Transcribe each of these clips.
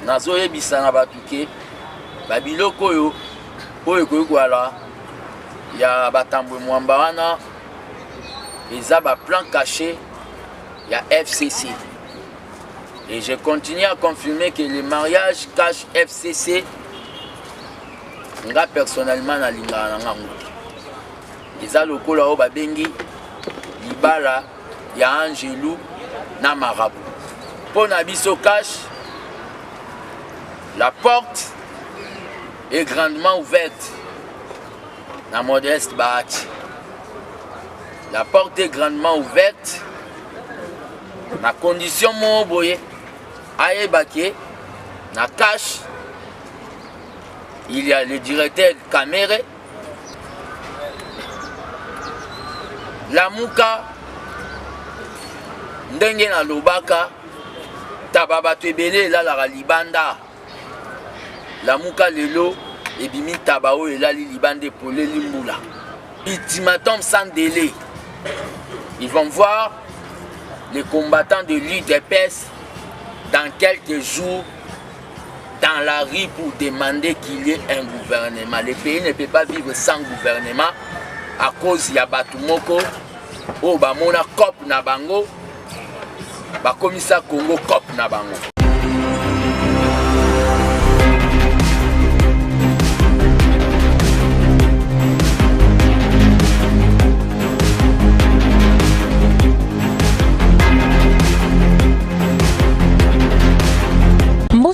nazoyebisa na bato ke babiloko oyo oyo ekoki koyala ya batambwe mwamba wana eza baplan caché ya fcc et je continue à confirmer que le mariage cache fcc nga personnellement nalingaka na ngango te eza lokola oyo babengi libala ya angelu na marabu mpo na biso cash la porte est grandement ouverte na modeste bahati la porte est grandement ouverte na condition moko boye ayeba ke na cash il y a le directeur kamere lamuka ndenge nalobaka taba bato ebele elalaka libanda lamuka lelo ebimi taba oyo elali libanda epoleli mbula ultimatum sans délai ils vont voir les combattants de l'udps dans quelques jours dans la rue pour demander qu'il y ait un gouvernement. Le pays ne peut pas vivre sans gouvernement à cause ya bato moko oyo bamona cop na bango bakomisa congo cop na bango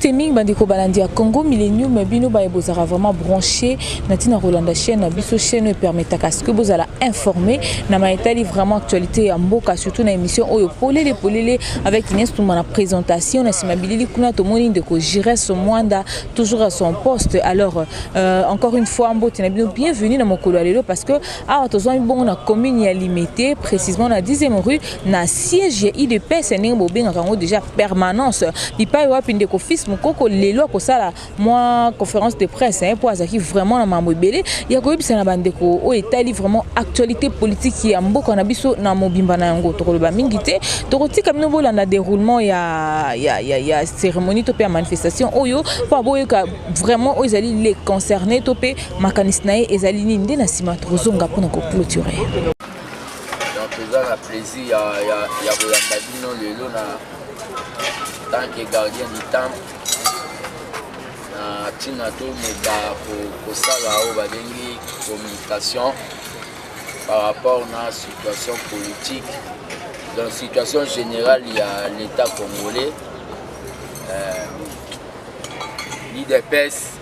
mbote mingi bandeko balandi ya congo millénium bino baye bozalaka vraiment branché na ntina kolanda chaîne na biso chaîne oyo epermetaka ceque bozala informé na maye etali vraiment actualité ya mboka surtout na émission oyo polele polele avec ines tumba na présentation na nsima bilili kuna tomoni ndeko gires mwanda toujours à son poste alors euh, encore une fois mbote na bino bienvenue na mokolo ya lelo parce que awa tozwami bongo na commune ya limete précisement na 10e rue na siège ya idps ndenge bobengaka yango déjà permanence bipai wapi ndeko fils mokoko lelo akosala mwa conférence de presse mpo eh, azalaki vraiment na mambo ebele ya koyebisa na bandeko oyo etali vraiment actualité politique ya mboka na biso na mobimba na yango tokoloba mingi te tokotika bino bolanda déroulement ya, ya, ya, ya cérémonie to mpe ya manifestation oyo mpo aboyoka vraiment oyo ezali les concernés to mpe Makanisi na ye ezali nini nde na nsima tokozonga mpo na koclôture. Donc eza na plaisir ya, ya, ya koyamba bino lelo na tant que gardien du temple na ntina tomeka kosala oyo babengi communication par rapport na situation politique donc situation générale ya l'état congolais euh, l'idps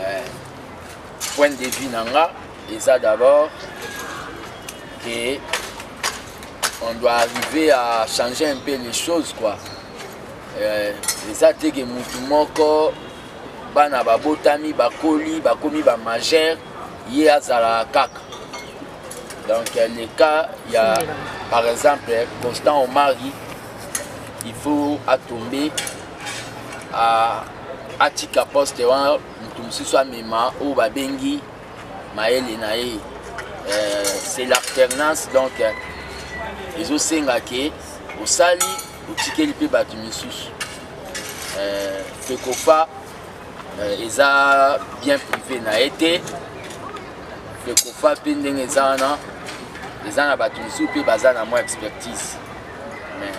eh, point de vue na nga eza d'abord que on doit arriver à changer un peu les choses quoi eh, eza te ke mutu moko bana babotami bakoli bakomi bamajeur ye azalaka kaka donc le cas ya par exemple constant omari il faut atombe à atika poste wana moto mosusu amema oyo babengi mayele na ye euh, c'est l'alternance donc euh, ezosenga ke osali otikeli mpe bato misusu euh, fekofa eza bien privé na ye te fekofa mpe ndenge eza wana eza na bato misusu mpe baza na mwa expertise mais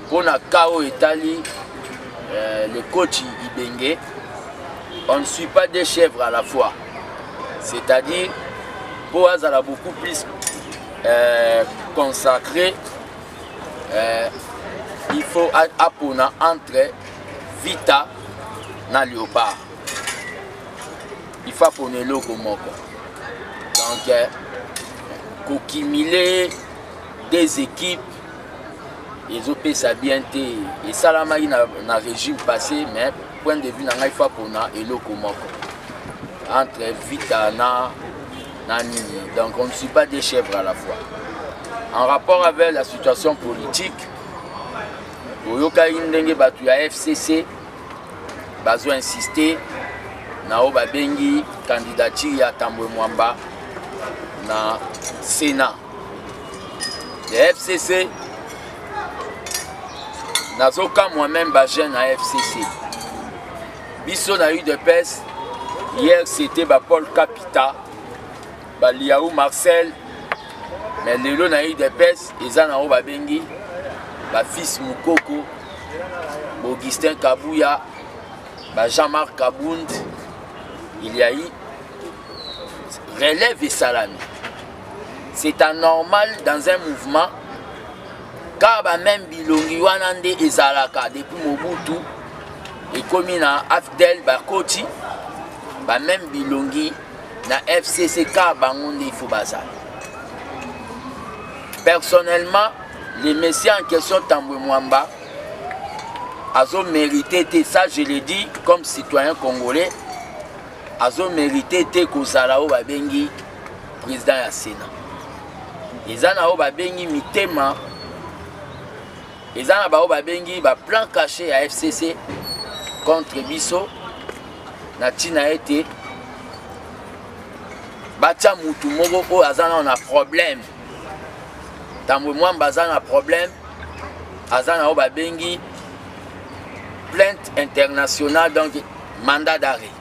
Mpo na cas oyo etali euh, le coach Ibenge, on ne suit pas deux chèvres à la fois. C'est-à-dire, mpo azala beaucoup plus euh, consacré, euh, il faut apona entre Vita na Léopard. Il faut apona eloko moko. Donc, euh, kokimile des équipes ezopesa bien te esalamaki na, na régime passé mais point de vue na ngai fa pona eloko moko entre vita na na nini donc on ne suit pas des chèvres à la fois en rapport avec la situation politique oyokaki ndenge bato ya fcc bazo insiste na oyo babengi candidature ya tambwe mwamba na sénat ya fcc nazokamwa meme bajeune na fcc biso na udps hier c'était bapol capita baliau marcel mais lelo na udps eza na oyo babengi bafils mokoko baugustin kabuya bajean marc kabund il ya relève esalami c'est anormal dans un mouvement car ba même bilongi wana nde ezalaka depuis mobutu ekomi na afdel bakoti ba même bilongi na fcc car bango nde ifo bazala personnellement le messie en question tambwe mwamba azo mérité te ça je le dis comme citoyen congolais azo mérité te kozala oyo babengi president ya sena eza na oyo babengi mitema eza na baoyo babengi baplan cache ya fcc contre biso na ntina ete batya mutu moko oyo aza nao na problème tambwe mwamba aza na problème aza na oyo babengi plainte internationale donc mandat d'arrêt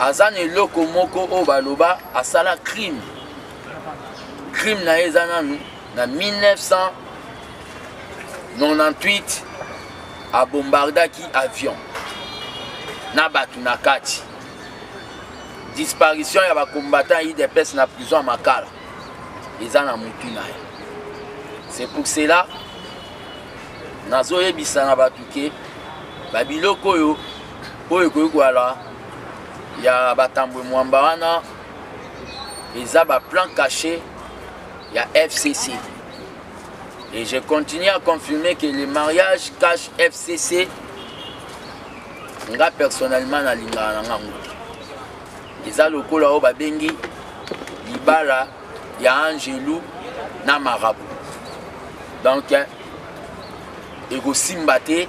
aza na eloko moko oyo baloba asala crime crime na ye eza nanu na 1998 abombardaki avion na bato na kati disparition ya bacombattant idps na prison ya makala eza na motu na ye c'est pour cela nazoyebisa na bato ke babiloko oyo oyo ekoki koyala ya batambwe mwamba wana eza baplan caché ya fcc et je continue à confirmer que le mariage cache fcc nga personnellement nalingaka na ngango te eza lokola oyo babengi libala ya angelu na marabu donc ekosimba te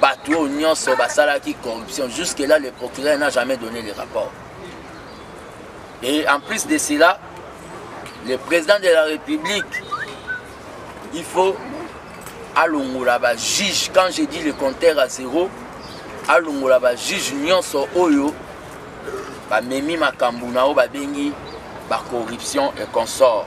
bato oyo nyonso basalaki corruption jusque là le procureur n'a jamais donné le rapport et en plus de cela le président de la république il faut alongola bajuge quand je dis le compteur à zéro alongola bajuge nyonso oyo bamemi makambo na oyo babengi bacorruption et consort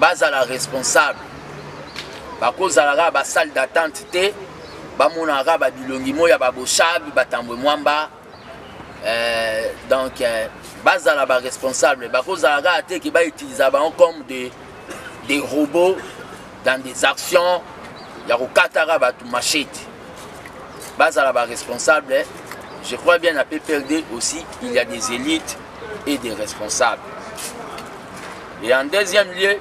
bazala responsable bakozala kaka basale d'attente te bamonaka kaka babilongi moi ya baboshabi batambwe mwamba euh, donc euh, bazala baresponsable bakozala kaka te ke bautiliza bango comme des, des robots dans des actions ya kokataka bato machete bazala baresponsable je crois bien na pprd aussi il y a des élites et des responsables. Et en deuxième lieu,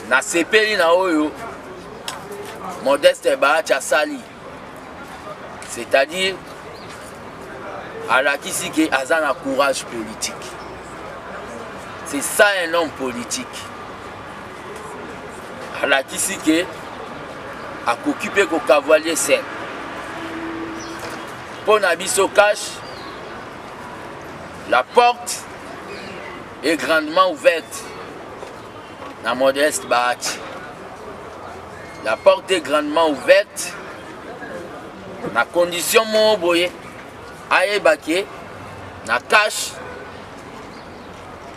na sepeli na oyo modeste baati asali c'est-à-dire alakisi ke aza na courage politique c'est ça un homme politique alakisi ke akoki mpe kokavalie sen mpo na biso cash la porte est grandement ouverte na modeste bahati la porte est grandement ouverte na condition moko boye ayeba ke na cash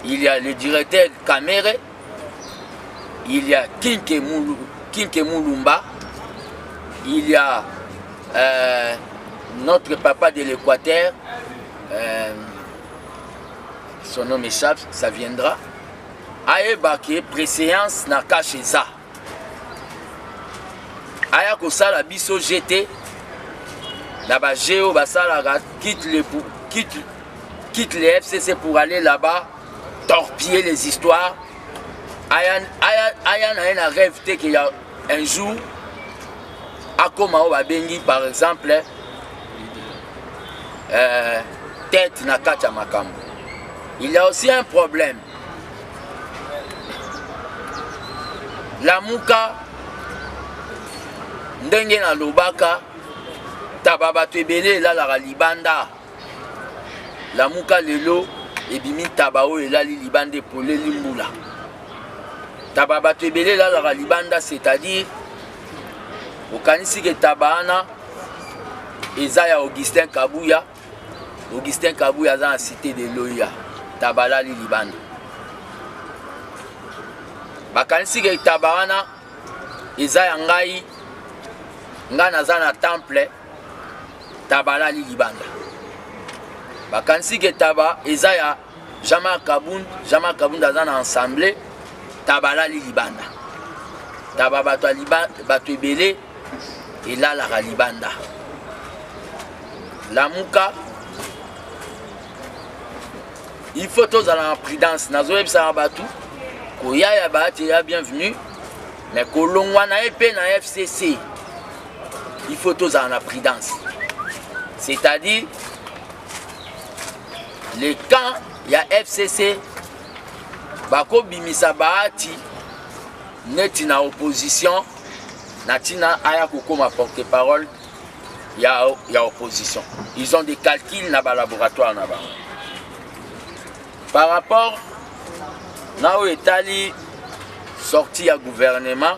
il y a le directeur kamere il y a Kinke, Moulou, Kinke Moulumba, il y a euh, notre papa de l'Équateur, euh, son nom échappe, ça viendra, ayeba ke préséance na kashe eza aya kosala biso jete na baje oyo basalaka quitte le, quitte, quitte le fcc pour aller là-bas torpiller les histoires aya, aya, aya na ye na rêve te ke ya un jour akoma oyo babengi par exemple euh, tête na kati ya makambo il y a aussi un problème lamuka ndenge nalobaka taba bato ebele elalaka libanda lamuka lelo ebimi ntaba oyo elali libanda epoleli mbula ntaba bato ebele elalaka libanda c'est-à-dire okanisi ke ntaba wana eza ya augustin kabuya augustin kabuya aza na cité de loya ntaba alali libanda bakanisi ke ntaba wana eza ya ngai ngai naza na temple taba alali libanda bakanisi ke taba eza ya jean-marc kabund jean-marc kabund aza na ensemble taba alali libanda taba bato ya bato ebele elalaka libanda lamuka il faut tozala na prudence nazoyebisaka bato koya ya baati ya bienvenue me kolongwa na ye mpe na fcc il faut tozala na prudence c'est-à-dire le camp ya fcc bakobimisa bahati neti na opposition na ntina aya kokoma porte parole ya, ya opposition ils ont des calculs na balaboratoire na bango par rapport na oyo etali sortie ya gouvernement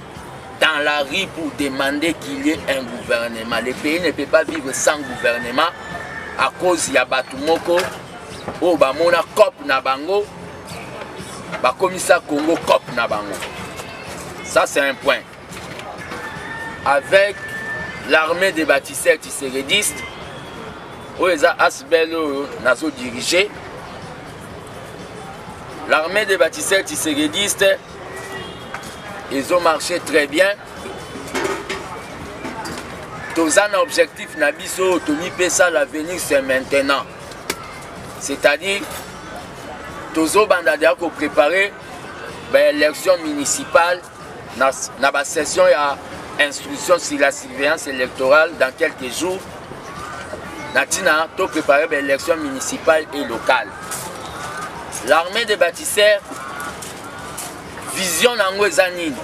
dans la rue pour demander qu'il y ait un gouvernement. Le pays ne peut pas vivre sans gouvernement à cause ya bato moko oyo bamona cop na bango bakomisa Congo cop na bango. Ça c'est un point. Avec l'armée des bâtisseurs tisseredistes oyo eza asbel oyo nazo dirige l'armée des bâtisseurs tisseredistes ezo marche très bien toza na objectif na biso tomipesa l'avenir c'est maintenant c'est-à-dire tozobanda deya koprépare baélection municipale na, na basession ya instruction sur la surveillance électorale dans quelques jours na ntina toprépare baélection municipale et locale l'armée des bâtisseurs vision na yango eza nini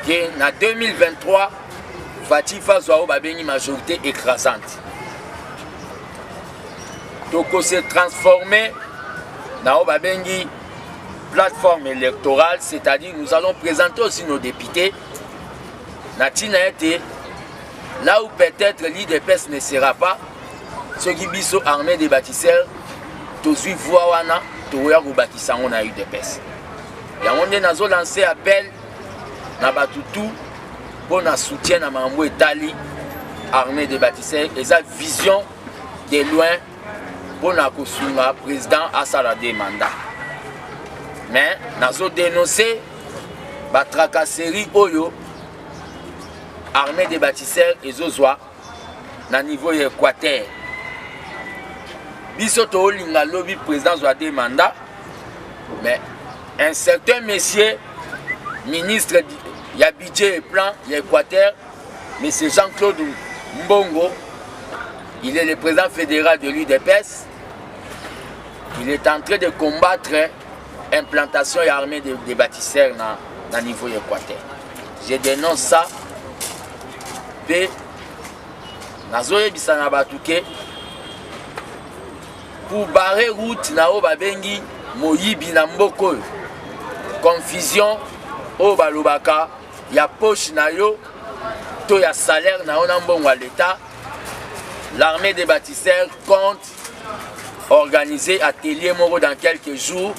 ke na 2023 faci faso yango babengi majorité écrasante tokose transforme na oyo babengi plateforme électorale c'est-à-dire nous allons présenter aussi nos députés na ntina ete Là où peut-être l'IDPS ne sera pas, ceux qui biso armée des bâtisseurs, tozui voix wana, toya kobakisa yango na UDPS. Yango nde nazo lancer appel na bato tout mpo na soutien na makambo etali armée des bâtisseurs eza vision de loin mpo na kosunga président asala de mandat mais nazo denoncer batracasserie oyo armée des bâtisseurs ezozwa na niveau ya équateur biso toolinga lobi président azwa de mandat mais un certain monsieur ministre ya budget et plan ya équateur monsieur jean claude mbongo il est le président fédéral de l'udps il est en train de combattre implantation ya armée de, de bâtisseurs na, na niveau ya équateur je dénonce ça mpe nazoyebisa na bato ke pour barrer route na oyo babengi moyibi na mboka oyo confusion oyo balobaka ya poche na yo to ya salaire na yo na mbongo ya leta l'armée des bâtisseurs compte organiser atelier moko dans quelques jours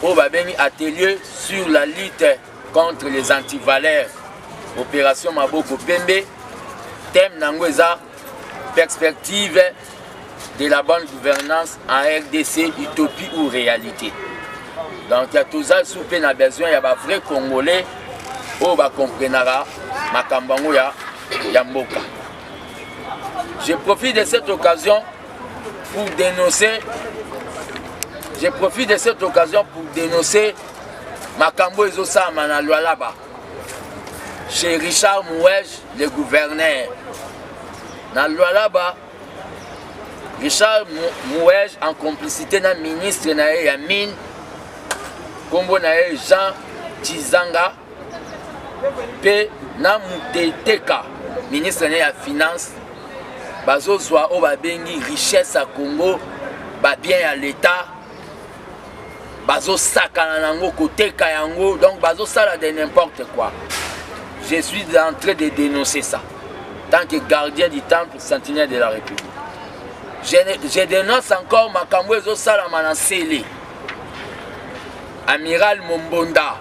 oyo babengi atelier sur la lutte contre les antivaleurs opération maboko pembe thème na yango eza perspective de la bonne gouvernance en rdc utopie ou réalité donc toza su mpe na besoin ya bavrai congolais oyo bakomprenaka makambo yango ya, ya mboka Je profite de cette occasion pour dénoncer je profite de cette occasion pour dénoncer makambo ezosalama na lwalaba chez richard mouej le gouverneur na lwalaba richard mouej en complicité na ministre na ye ya mine nkombo na ye jean tizanga mpe na muteteka ministre ne ya finance bazozwa oyo babengi richesse ya congo babien ya leta bazosakana na yango koteka yango donc bazosala de n'importe quoi je suis en train de dénoncer ça tant que gardien du temple sentinelle de la république je, je dénonce encore makambo ezosalama na nsele amiral mombonda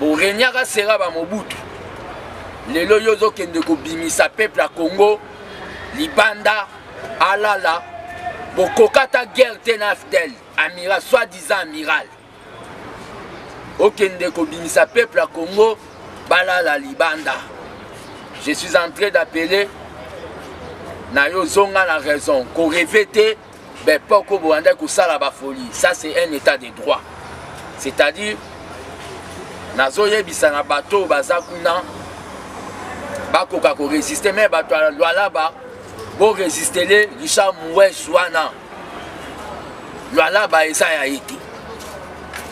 boregnaka sera bamobutu lelo yo ozokende kobimisa peuple ya congo libanda alala bokokata guerre te na fdel amiral soit disant amiral okende kobimisa peuple ya congo balala libanda je suis en train d'appeler na yo zonga na raison koreve te ben poko boandaki kosala bafolie ça c'est un état de droit c'est-à-dire nazoyebisa na bato oyo baza kuna bakoka koresiste me bato ya lwalaba boresistele richard moues wana lwalaba eza ya ye te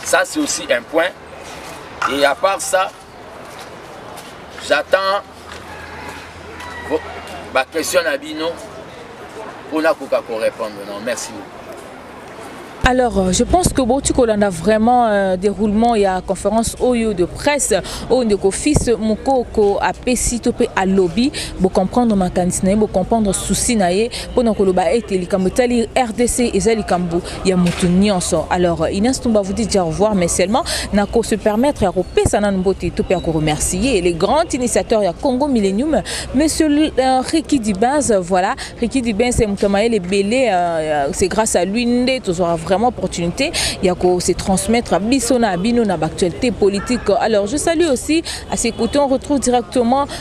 ça c'est aussi un point et à part ça j'attends ba question na bino mpo nakoka korépondre non merci beaucoup Alors, euh, je pense que Boti Kolanda vraiment euh, déroulement, il y a conférence OYO de presse, au de fils Mukoko à Pesito pe à lobby, pour comprendre ma cantine, pour comprendre souci naé, pour nous koloba été likambo tali RDC et zali kambo ya mutu nyonso alors Inès Tumba vous dit au revoir mais seulement na ko se permettre ya kopesa nanu mbote to pe ya ko remercier les grands initiateurs ya Congo Millennium monsieur euh, Ricky Dibaz voilà Ricky Dibaz c'est mutu mayele belé euh, c'est grâce à lui nde tozora vraiment opportunité ya ko se transmettre biso na bino na actualité politique alors je salue aussi à ses côtés on retrouve directement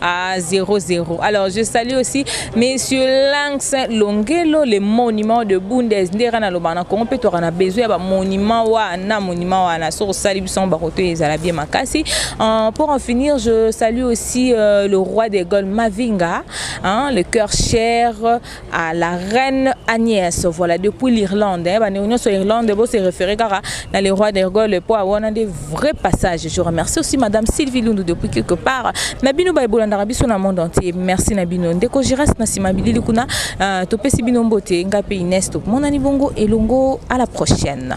Ah, 0-0. Alors, je salue aussi Monsieur Lanx Longelo, le monument de Bundes. Ndera na lobana Congo pe tokana besoin ba monument wa na monument wa na so sali bison ba koto ezala bien makasi. Euh, pour en finir, je salue aussi euh, le roi des Gaules Mavinga, hein, le cœur cher à la reine Agnès voilà depuis l'Irlande hein, bande union sur Irlande vous se référez car dans le roi des Gaules pour avoir des vrais passages je remercie aussi madame Sylvie Lundu depuis quelque part Nabino ba bolanda rabi sur le monde entier merci Nabino ndeko je reste na sima bilili kuna euh, to pesi bino mbote ngape Inès to mon ani bongo et longo à la prochaine